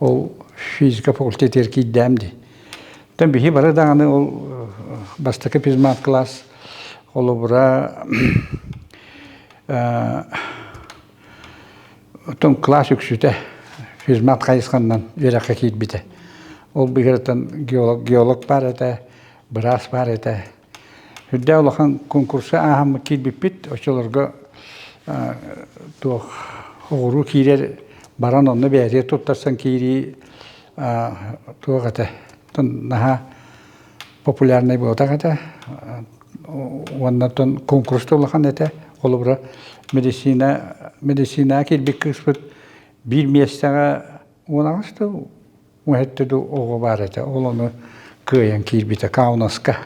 Ол физика факультетыгар киирдэм дии. Оттон биһи бары даҕаны ол бастакы физмат класс холобура оттон класс үксүтэ физмат хайысханан үөрэххэ киирбитэ. Ол быһыытынан геолог геолог баар этэ, быраас баар этэ. Үрдээ улахан конкурса ааһаммыт киирбиппит, оччолорго туох оҕуруу киирэр баран онно бээрие туттарсан киирии туох этэ наһаа популярнай буолатах этэ уонна тон конкурста улахан этэ холобура медицина медицинаа киирбит кыыспыт биир миэстэҕэ Уолаҥаста уһэтте да оҕо баар этэ, ол ону кыайан киирбитэ Каунаска.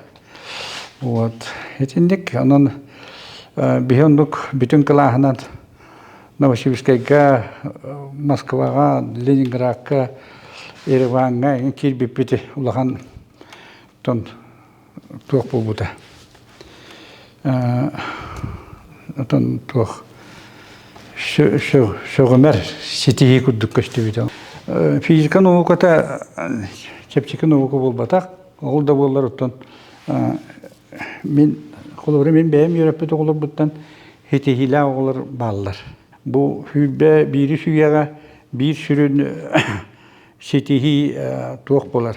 Вот. Итинник онон биһи оннук бүтүн кылааһынан Новосибирскайга, Москваҕа, Ленинградка, Ереванга киирбиппити улахан тон туох буолбута оттон туох сөҕүмэр ситиһии курдук көстүбүтэ физика науката чэпчэки наука буолбатах ол да буоллар оттон мин холобура мин бэйэм үөрэппит оҕолорбуттан ситиһиилээх оҕолор бааллар бу сүүрбэ биирис үйэҕэ биир сүрүн ситиһии туох буолар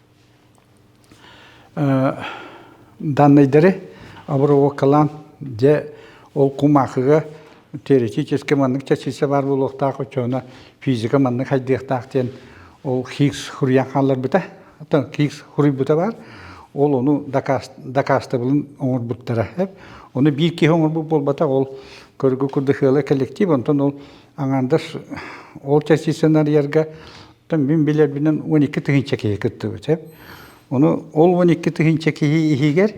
данныйдары обработкалаан дьэ ол кумаахыга теоретически маннык чэчирсэ баар буолуохтаах оччоҕуна физика маннык хайдыахтаах диэн ол хикс хуруйан хаалларбыта хикс хуруйбута баар ол ону дакаастабылын оҥорбуттара ону биир киһи оҥорбут буолбатах ол көргө курдахыала коллектив онтон ол аҥаардас ол чэчирсэни арыйарга Оттон мин билэрбинэн он икки тыһыынча киһи кыттыбыт. Ону ол он икки тыһыынча киһи иһигэр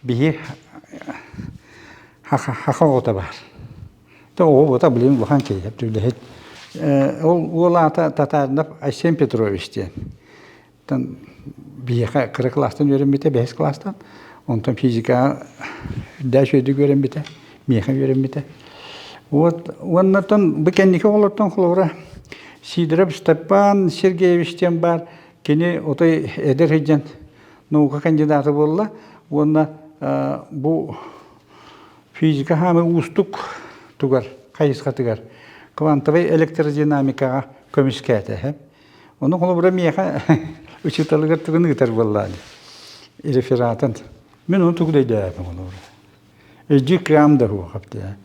биһи хаха оҕото баар. Оҕобото, блин, улахан киһи, үлэһит. Ол уол аата Татарнов Айсен Петрович диэн. Оттон биһиэхэ кыра класстан үөрэммитэ, бэһис класстан. Онтон физикаҕа үрдээч үрдүк үөрэммитэ. миэхэ үөрэммитэ. Вот уоннартан бу кэнники оҕолортон холобура Сидоров Степан Сергеевич диэн баар кини отой эдэр сыдьан наука кандидата буолла уонна бу физика хаамы уустук тугар хайысхатыгар квантовай электродинамикаҕа көмүскээтэ Ону холобура миэхэ учууталыгар тугун ыытар буоллаан рефератын мин ону тугу дөйдөөбөм холобура Эдьи кыам да суохап дии.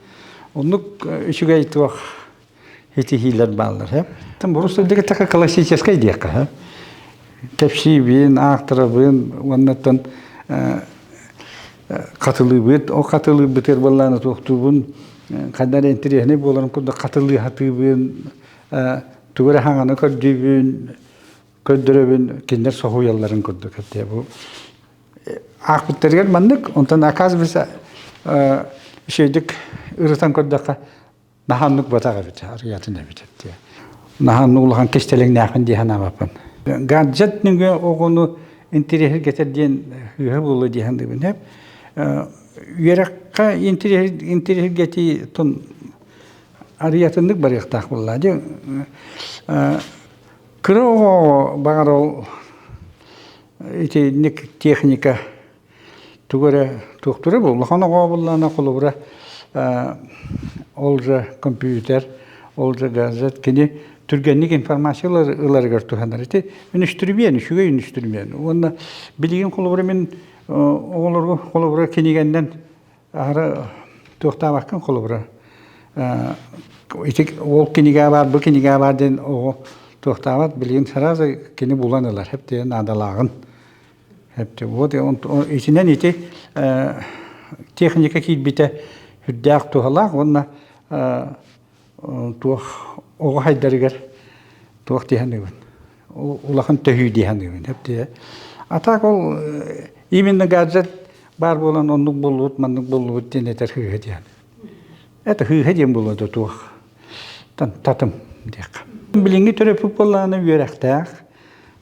Оннук үчүгэй туох ситиһиилэр бааллар э? Там борус так классическай диэххэ э? Кэпсиибин, аахтарабын уоннаттан хатылыыбыт, о хатылыыбытыр баллааны туохтуубун ханнар интересный боларын курдук хатылыы хатыыбын, тугу эрэ хаҥаны көрдүүбүн, көрдөрөбүн кинилэр соһуйалларын курдук бу аахпыттарыгар маннык онтон оказывается үчүгэйдик ырытан көрдөххө наһаннык батах эбит аргыатын эбит наһан улахан кистэлэҥнээхин дии санаабаппын гаджет нүгэ оҕону интириэһир кетер диэн үһө булу диэн дыбынеп үөрэххэ интириэһир гетии тун арыятыннык барыахтаах булла ди кыра оҕо бағар ол Итинник техника тугу эрэ туохтура бу улахан оҕо буоллаҕына холобура ол же компьютер ол же гаджет кини түргэнник информация ыларыгар туһанар ити үнүстүрүмүөн үчүгэй үнүстүрүмүөн уонна билигин холобура мин оҕолорго холобура кинигэннэн Аһара туохтаабаккын холобура ити ол кинигэ баар бу кинигэ баар диэн оҕо туохтаабат билигин сразу кини булан ылар хэптиэ наадалааҕын хэптиэ вот итинэн ити техника киирбитэ үрдээх туһалаах уонна туох оҕо хайдарыгар туох дии саныыбын улахан төһүү дии саныыбын а так ол именно гаджет баар буолан оннук буллубут маннык буллубут диэн этэр хыыһы диэн это хыыһы диэн буолуо да туох татым диэххэ билиҥҥи төрөппүт буоллаҕына үөрэхтээх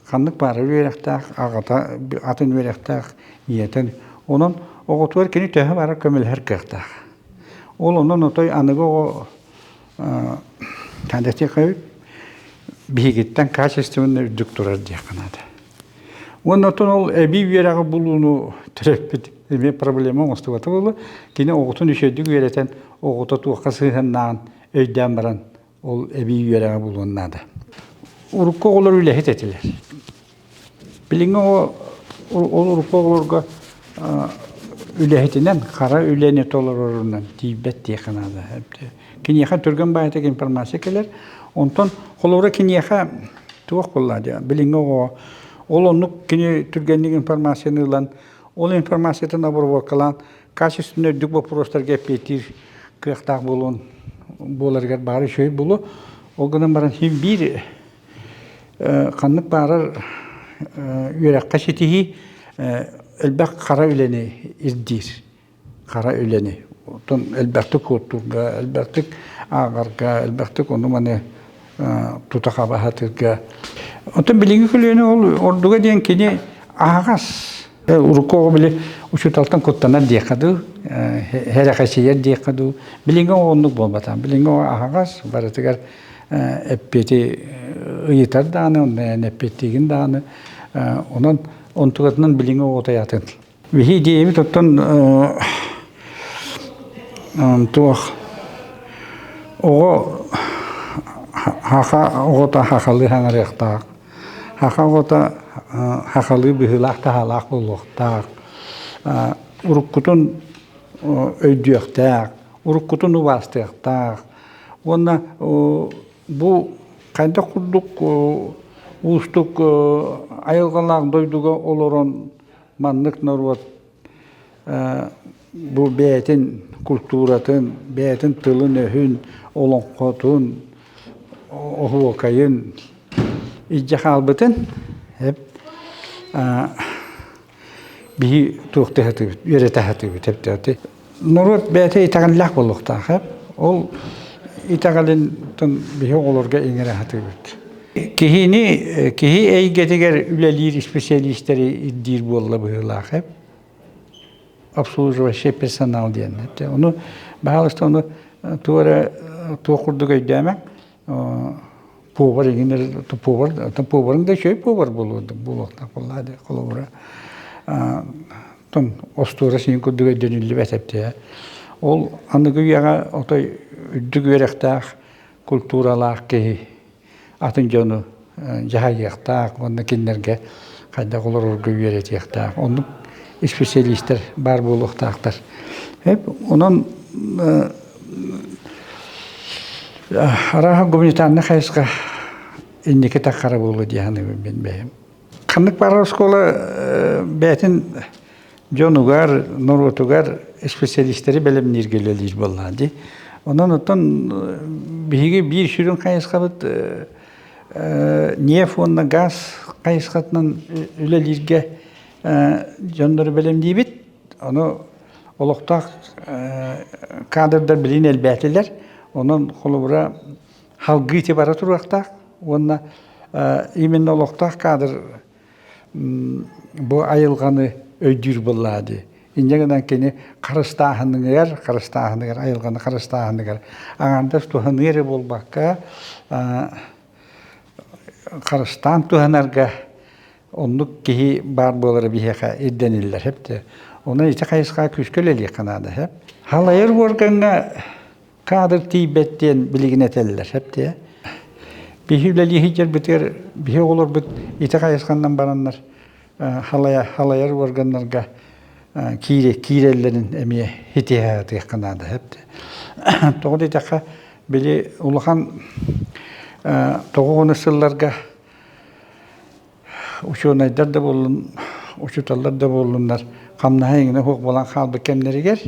ханнык баара үөрэхтээх, аҕата атын үөрэхтээх ийэтин. Онон оҕотугар кини төһө барар көмөлөһөр кыахтаах. Ол онон отой аныгы оҕо биһигиттэн качественнай үрдүк турар диэххэ наада. Уонна оттон ол эбии үөрэҕи булууну төрөппүт эмиэ проблема оҥостубата буолла. Кини оҕотун үчүгэйдик үөрэтэн, оҕото туохха сыһыаннааҕын өйдөөн баран Ол эбии үөрэҕи булуон наада. Урукку оҕолор үлэһит этилэр. Билиҥҥи ол урукку оҕолорго үлэһитинэн, хара үлэни толорорунан тиийбэт диэххэ наада. Киниэхэ түргэн баайытык информация кэлэр. Онтон холобура киниэхэ туох булла диэ билиҥҥи оҕо ол оннук кини түргэнник информацияны ылан ол информациятын обработкалаан Касть үстүнэн үрдүк боппуруостарга эппиэттиир кыахтаах буолуон буоларыгар баара үчүгэй буолуо. Ол гынан баран син биир ханнык баарар үөрэххэ ситиһии элбэх хара үлэни ирдиир. Хара үлэни. Оттон элбэхтик куоттуурга, элбэхтик ааҕарга, элбэхтик ону-маны тута хабаһатыырга. Оттон билиги көлүөнэ ол ордуга диэн кини аһаҕас. Урукку оҕо били учууталтан куттанар диэххэ дуу, херэхэсийэр диэххэ дуу, билиҥҥи оҕо оннук буолбатаҕа. Билиҥҥи оҕо аһаҕас, барытыгар эппиэти ыйытар даҕаны, онно эппиэттиигин даҕаны, онон онтугатынан билиҥҥи оҕо тайаатын Вихи идиэйэби тоттон туох оҕо хаха оҕото хахалы хаҥарыахтаах, хаха оҕото хахалы быһыылаах таһаалаах буолуохтаах, уруккутун өйдүөхтээх, уруккутун убаастыахтаах уонна бу хайдах курдук уустук айылҕалаах дойдуга олорон маннык норуот бу бэйэтин культуратын, бэйэтин тылын-өһүн, олоҥхотун, оһуокайын илдьэ хаалбытын биһи туох да үөрэтэ сатыыбыт Норуот бэйэтэ итэҕэллээх буолуохтаах. Ол итэҕэлинтэн биһи оҕолорго иҥэрэ сатыыбыт. Киһини, киһи эйгэтигэр үлэлиир исписэлиистэри ирдиир буолла быһыылаах. Обслуживающий персонал диэн. Ону, баһаалыста, ону туора туох курдук өйдөөмөҥ, пуобар игинер пуобар пуобарын да үчүгэй пуобар буолуо буолуохтаах буоллаа да холобура тон остуора син курдук өйдөнүллүбэт эптеэ ол аныгы үйэҕэ отой үрдүк үөрэхтээх культуралаах киһи атын дьону дьаһайыахтаах уонна кинилэргэ хайдах олорорго үөрэтиэхтээх. Оннук испециалистар баар буолуохтаахтар. Онон арааһа гуманитарный хайысха инники таххара буолуо дии саныыбын мин бэйэм. Ханнык баар оскуола бэйэтин дьонугар, норуотугар специалистери бэлэмнииргэ үлэлиир буоллаҕа дии. Онон оттон биһиги биир сүрүн хайысхабыт нефть уонна газ хайысхатынан үлэлииргэ дьоннору бэлэмниибит. Ону олохтоох кадрдар билин элбээтилэр. Онон холобура халгыы бара туруохтаах уонна именно олохтоох кадр Бу айылҕаны өйдүүр быллаа дии. Инньэ гынан кини харыстааһыныгар, харыстааһыныгар, айылҕаны харыстааһыныгар аҥаардас туһаныы эрэ буолбакка, харыстаан туһанарга оннук киһи баар буолара биһиэхэ ирдэниллэр сөп. Онон ити хайысха күүскэ үлэлиэххэ наада сөп. Халайар уоргаҥҥа Кадр тиийбэт диэн билигин этэллэр сөптөө. Биһи үлэлии сылдьарбытыгар биһи оҕолорбут ити хайысханан бараннар халая халайар органнарга киире киирэллэрин эмиэ хитиһэ атыахха наада сөптөө. Тоҕо дитэххэ били улахан тоҕо ону сылларга учуонайдар да буоллун учууталлар да буоллуннар хамнаһа иҥнэ суох буолан хаалбыт кэмнэригэр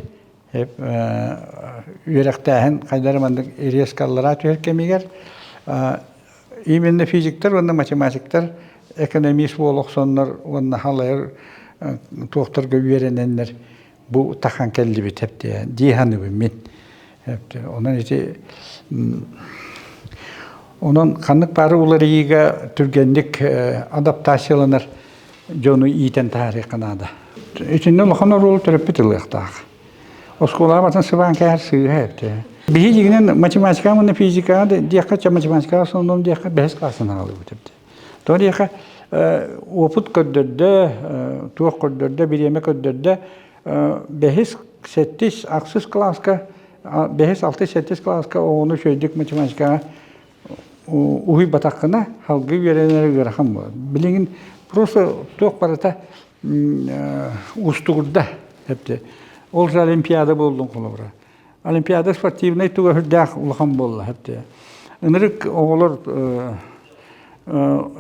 үөрэхтээһин хайдары маннык резко аллараа түһэр кэмигэр именно физиктэр уонна математиктар экономист буола охсоннор уонна халайар туохтарга үөрэнэннэр бу тахан кэллибит эптиэ дииханыбын мин онон ити онон ханнык бары уларыйыыга түргэнник адаптацияланар дьону иитэн таһаарыахха наада. Итиннэ улахан оруолу төрөппүт ылыахтаах. Оскуолаҕа батан сыбаан кээһэр сыыһа эптэ. Биһиигинэн математикаҕа манна физикаҕа диэххэ, математикаҕа основном диэххэ бэһис класстан аҕалыбыт эбит. Тоҕо диэххэ, уопут көрдөрдө, туох көрдөрдө, бириэмэ көрдөрдө, бэһис, сэттис, ахсыс класска, бэһис, алтыс, сэттис класска оҕону үчүгэйдик математикаҕа уһуйбатаххына салгыы үөрэнэр ыарахан буолар. Билигин просто туох барыта уустугурда эпти. Ол же олимпиада болдун холобура. Олимпиада спортивнай туга үрдээх улахан болла эпти. Ынырык оҕолор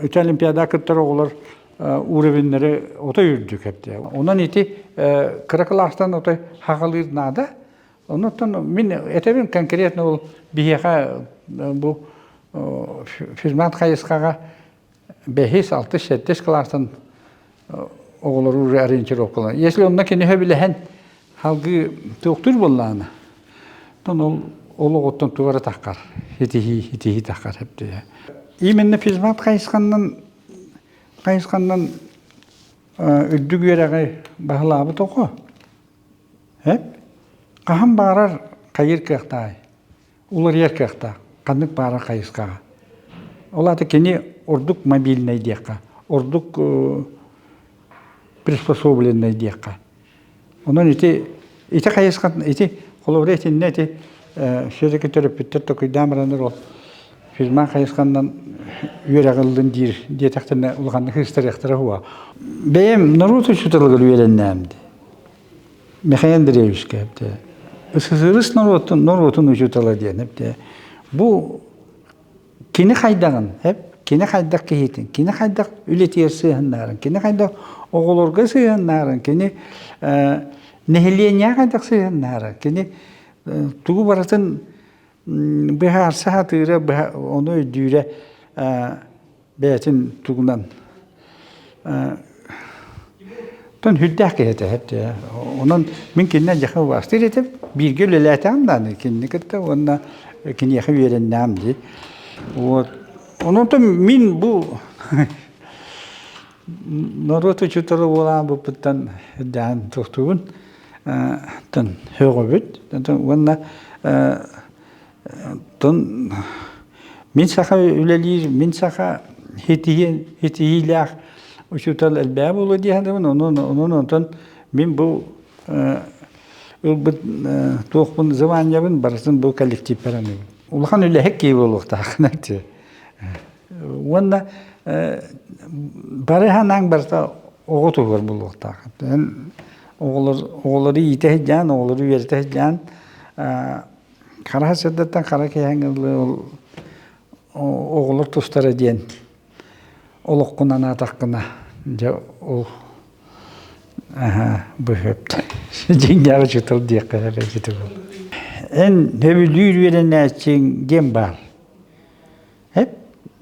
ити олимпиада кыттар оҕолор уровеннары ото үрдүк эпти. Онон ити кыра кылаастан ото хахалыыр наада. Онуттан мин этэбин конкретно ол биһиэхэ бу физмат хайысхаҕа бэһис, алтыс, сэттис кылаастан оҕолору уже ориентировкаланар. Если онно киниһэ билэһэн халгыы туохтур буоллаана, тон ол ол оҕоттон туора тахкар, хитихи, хитихи тахкар хэптиһэ. Именно физмат хайысханнан хайысханнан үрдүк үөрэҕи баһылаабыт оҕо Эт хаһан баарар хайыыр кыахтааҕый? Уларыйар кыахтаах. Ханнык баарар хайысхаҕа. Ол аата кини ордук мобильнай диэххэ, ордук приспособленнай диэххэ. Онон ити ити хайысхан ити холобура итиннэ ити все-таки төрөппүттэр токуйдаан бараннар ол фирма хайысханнан үөрэҕиллин диир диэтэхтэринэ улаханнык ыстарыахтара уо. Бэйэм норуот учууталыгар үөрэннээм дии. Михаил Андреевич кэпте. СССР норуотун, норуотун учутала диэн эпте. Бу кини хайдагын эп, кини хайдах киһитин, кини хайдах үлэтиэр сыһыннарын, кини хайдах оҕолорго сыһыннарын, кини нэһилиэнньэ хайдах сыһыннарын, кини тугу барытын быһаарса сатыыра, ону өйдүүрэ бэйэтин тугунан тон хүрдээх киһитэ онон мин кининен яха убастыр этим бииргэ үлэлээтэм дааны кинини кытта уонна киниэхэ үөрэннэм ди вот ононтон мин бу норуот учутала буолаан буппуттан даан тохтугун тан хөҕөбүт уонна Оттон мин саха үлэлиир, мин саха итиһиилээх учуутал элбэҕэ буолуо диэхтэрин онон онон онтон мин бу ылбыт туохпун званиябын барытын бу коллективпар аныыбын. Улахан үлэһит киһи буолуохтааххына дии. Уонна бары санааҥ барыта оҕо туһугар буолуохтаах. Эн оҕолор оҕолору иитэ сылдьаан, оҕолору үөрэтэ сылдьаан Хараһа сырдаттан хара киһэҥ оҕолор тустара диэн олоххунан аатаххына дьэ ол быһыып дьиҥнээх учуутал диэххэ эрэ ити эн сөбүлүүр үөрэнээччиҥ ким баар Эп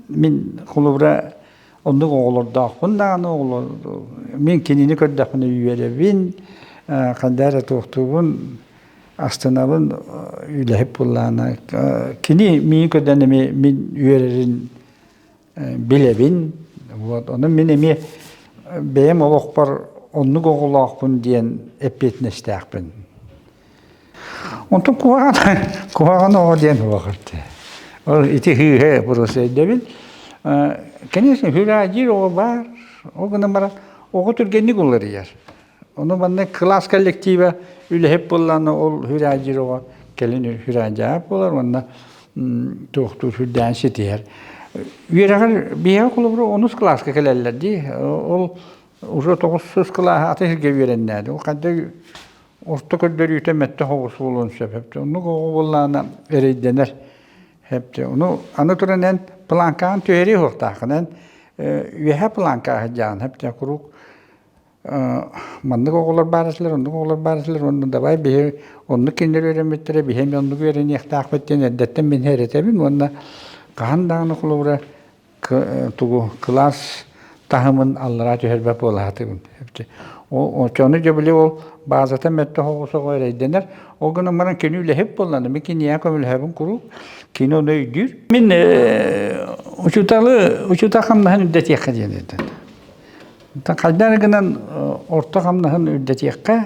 мин холобура оннук оҕолордоохпун даҕаны оҕолор мин кинини көрдөхпүнэ үөрэбин ханна эрэ туохтуубун астынабын үлэһит буоллаҕына кини миин көрдөөн эмиэ мин үөрэрин билэбин вот ону мин эмиэ бэйэм олохпор оннук оҕолоохпун диэн эппиэтинэстээхпин Онтон куһаҕан куһаҕан оҕо диэн уоҕыртыы. Ол ити һыыһы бурусейдэбин. Конечно, хюраадиир оҕо баар. Ол гынан баран оҕо түргэнник уларыйар. Ону манна кылаас коллектива үлэһит буоллаҕына ол хюраадиир оҕо кэлин хюраадиаап буолар уонна туохтуур сүрдээн ситиһэр. Үөрэҕэр биһиэхэ холобура онус кылааска кэлэллэр дии. Ол уже тоҕус кылааһа аты сиргэ үөрэннээdi. Ол ханна орто көрдөрүүтэ мэтэх оҕус буолуон сөп эпте оннук оҕо буоллаана эрэйдэнэр эпте ону аны туран эн планкаан түһэрии хуохтаахын эн үөһэ планка аһыдьаан эпте куруук маннык оҕолор баарасылар оннук оҕолор баарасылар онну давай биһи оннук кинилэр үөрэммиттэрэ биһи оннук үөрэниэхтаахпыт диэн эрдэттэн мин эрэтэбин уонна хаһан даҕаны холобура тугу кылаас таһымын аллараа түһэрбэт буолаатыбын. Очону дьэ били ол баазата мэтте хоҕусоҕо эрэйдэнэр. Ол гынан баран кини үлэһит болланы, ми киния көмөлөһөбүн куруук кини оны өйдүүр. Мин учуталы учута хамнаһын үрдэтиэххэ диэн этэн. Хайдары гынан орто хамнаһын үрдэтиэххэ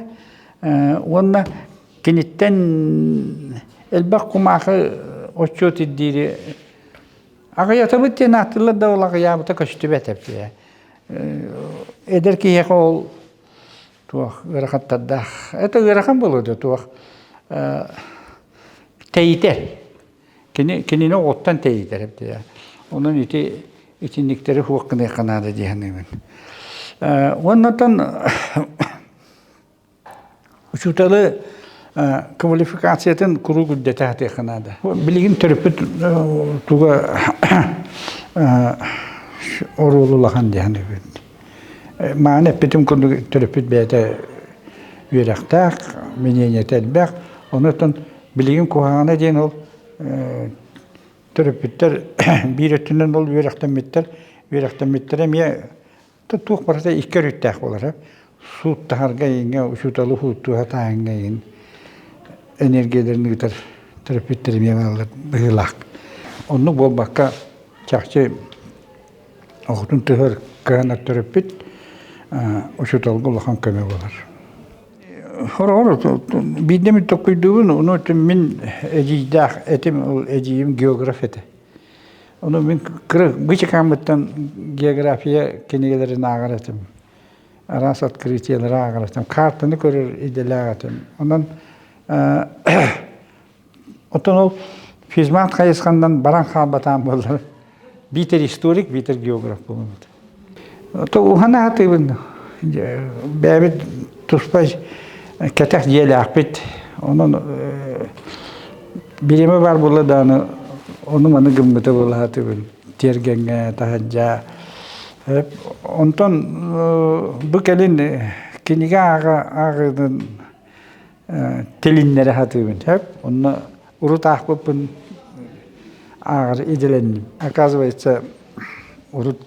уонна киниттэн элбэх кумаахы отчет ирдиири Аҕыйатабыт диэн ааттылар да ол аҕыйаабыта көстүбэтэ. Эдэр киһиэхэ ол туох ыарахаттардаах. Это ыарахан болуода туох тэйитэр. Кини кинини оҕоттон тэйитэр эбитэ. Онон ити итинниктэри хуох гыныахха наада дии саныыбын. Оннотон Учууталы квалификациятын куруук үрдэтээхтиэххэ наада. Билигин төрөппүт туга оруолу улахан диһэн үгүн. Мааны эппитим курдук төрөппүт бэйэтэ үөрэхтээх, миниэньэтэ элбэх. Онуттан билигин куһаҕана диэн ол төрөппүттэр биир өттүнэн ол үөрэхтэммиттэр. Үөрэхтэммиттэрэ эмиэ Туох барыта икки өрүттээх буолара. Сууттаһарга иҥэ, учууталы ууттууһа таайыҥга иҥин энергияларын ыытар терапевттэр эмиэ бааллар быһыылаах. Оннук буолбакка, чахчы оҕотун тыһыгар кыһанар төрөппүт учууталга улахан көмө буолар. Хороҕор биирдэ мүт токкуйдуубун, ону мин эдьиийдээх этим, ол эдьиийим географ этэ. Ону мин кыра бычыкааммыттан география кинигэлэрин ааҕар этим. Араас открытиелары ааҕар этим. Картаны көрөр идэлээх этим. Онон оттон ол физмат хайысханнан баран хаалбатаан буоллар биитэр историк, биитэр географ буолуммут. То уһана атыыбын бэйэбит туспа кэтэх дьиэлээхпит онон бириэмэ баар буолла даҕаны ону маны гыммыта буолаатыбын тиэргэҥҥэ таһырдьа онтон бу кэлин кинигэ ааҕыытын тилиннэрэ сатыыбын сөп онно урут аахпыппын ааҕар идэлэнним оказывается урут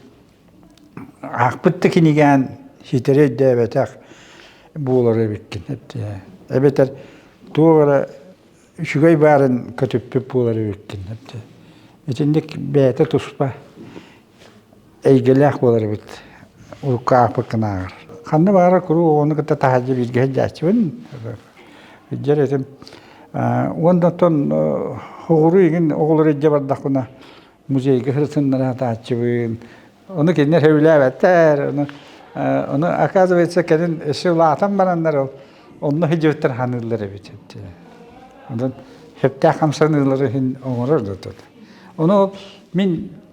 аахпыт да кинигээн ситэри өйдөөбөтөх буолар эбиккин эбэтэр туох эрэ үчүгэй баарын көтүппүт буолар эбиккин итинник бэйэтэ туспа эйгэлээх буолар эбит урукку ааппыккынааҕар ханна баара куруук оҕону кытта таһаадьы бииргэ сылдьааччыбын дьэр этим уонна оттон хоһуруу игин оҕолор илдьэ бардахпына музейга сырсыннара сатааччыбын ону кинилэр сөбүлээбэттэр ону оказывается кэлин өссө улаатан бараннар ол онно сылдьыбыттар саныыллар эбит онон сөптөөх хамсаныылары иһин оҥорор да ону мин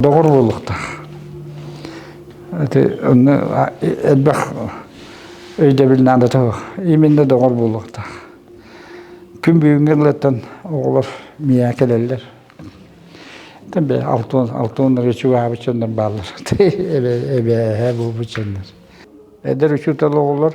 доҕор буолуохтаах онно элбэх өйдөбүл наада тоох именно доҕор буолуохтаах күн бүгүнгі ылыттан оҕолор миэхэ кэлэллэр Тембе алтон алтоннары чугаабыт чоннор бааллар эбе эбэһэ буолбут чоннор эдер учутал оҕолор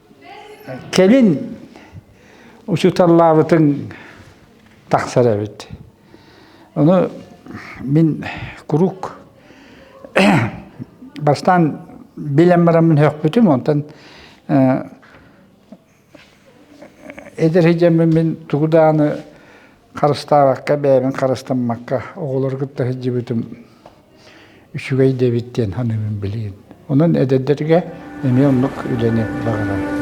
Кэлин учууталлаабытын тахсар эбит. Ону мин куруук бастаан билэн бараммын өөхпүтүм, онтон эдэр сыдьаммын мин тугу дааны харыстаабакка бэйэбин харыстаммакка оҕолору кытта сылдьыбытым үчүгэй диэбит диэн саныыбын билигин онон эдэрдэргэ эмиэ оннук үлэни баҕарар